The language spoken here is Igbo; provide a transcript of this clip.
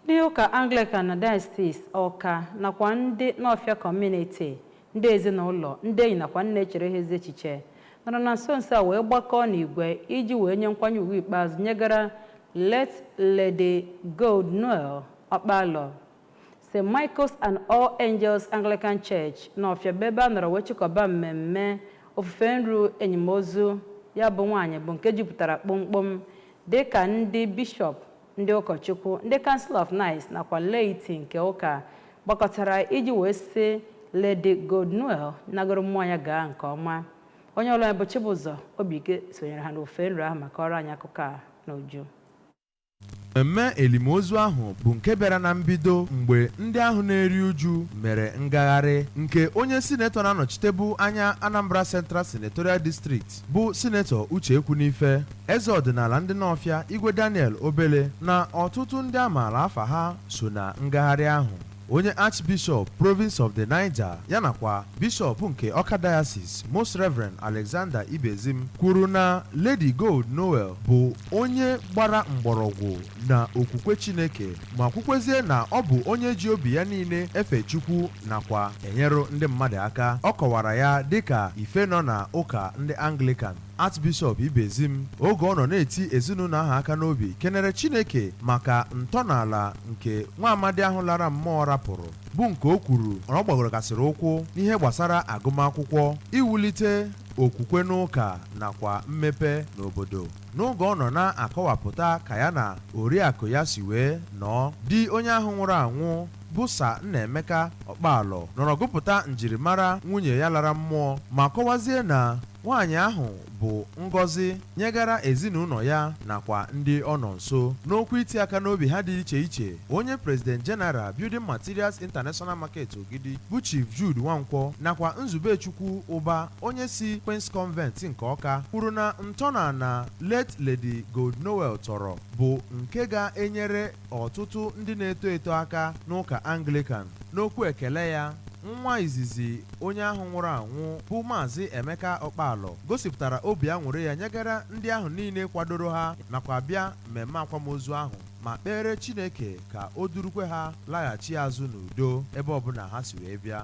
Ndị ụka Anglican na Diocese Ọka nakwa ndị Nọfịa Community, ndị ezinụlọ, ndị enyi nakwa ndị na-echere ha ezi echiche nọrọ na nso nso a wee gbakọọ n'igwe iji wee nye nkwanye ugwu ikpeazụ nyegara late Lady Gold Noel Ọkpalọ. St. Michael's and All Angels Anglican Church Nọfịa bụ ebe a nọrọ wee chịkọba mmemme ofufe nru enyimozu ya bụ nwaanyị bụ nke jupụtara kpomkpom dịka ndị bishọp Ndị ụkọchukwu, ndị Council of Knights nakwa laity nke ụka gbakọtara iji wee sị Lady Gold Noel nagoro mmụọ ya gaa nke ọma. Onye ọlụ anyị bụ Chibụzọ Obidike sonyere ha n'ofufe nru ahụ ma kọọrọ anyị akụkọ a n'uju. Mmemme elimozu ahụ bụ nke bịara na mbido mgbe ndị ahụ na-eri uju mere ngagharị nke onye sinetọ na-anọchitebu anya Anambra Central Senatorial District bụ Sinetọ Uche Ekwunife Eze ọdịnala ndị Nọfịa, Igwe Daniel Obele na ọtụtụ ndị a maala afa ha so na ngagharị ahụ. Onye Archbishop Province of the Niger ya nakwa Bishop nke Ọka Diocese Most Reverend Alexander Ibezim kwuru na Lady Gold Noel bụ onye gbara mgbọrọgwụ na okwukwe Chineke ma kwukwezie na ọ bụ onye ji obi ya niile efe Chukwu nakwa enyere ndị mmadụ aka. Ọ kọwara ya dịka ife nọ na ụka ndị Anglican. Archbishop Ibezim oge ọ nọ na-eti ezinụlọ ahụ aka n'obi kenere Chineke maka ntọnala nke nwa amadi ahụ lara mmụọ rapụrụ bụ nke o kwuru na ọ gbadorogasịrị ụkwụ n'ihe gbasara agụmakwụkwọ iwulite okwukwe n'ụka nakwa mmepe n'obodo n'oge ọ nọ na-akọwapụta ka ya na oriakụ ya si wee nọọ di onye ahụ nwụrụ anwụ bụ Sir Nnaemeka Ọkpalọ nọrọ gụpụta njirimara nwunye ya lara mmụọ ma kọwazie na Nwaanyị ahụ bụ ngọzi nyegara ezinụlọ ya nakwa ndị ọ nọ nso. N'okwu iti aka n'obi ha dị iche iche, onye President General Building Materials International Market Ogidi bụ Chief Jude Nwankwọ nakwa Nzubechukwu Ụba onye si Queen's Convent nke Ọka kwuru na ntọnala late Lady Gold Noel tọrọ bụ nke ga-enyere ọtụtụ ndị na-eto eto aka n'ụka Anglican. N'okwu ekele ya, nwa izizi onye ahụ nwụrụ anwụ bụ Maazị Emeka Ọkpalọ gosipụtara obi aṅụrị ya nyegara ndị ahụ niile kwadoro ha nakwa bịa mmemme akwamozu ahụ ma kpeere Chineke ka o durukwe ha laghachi azụ n'udo ebe ọbụla ha si wee bịa.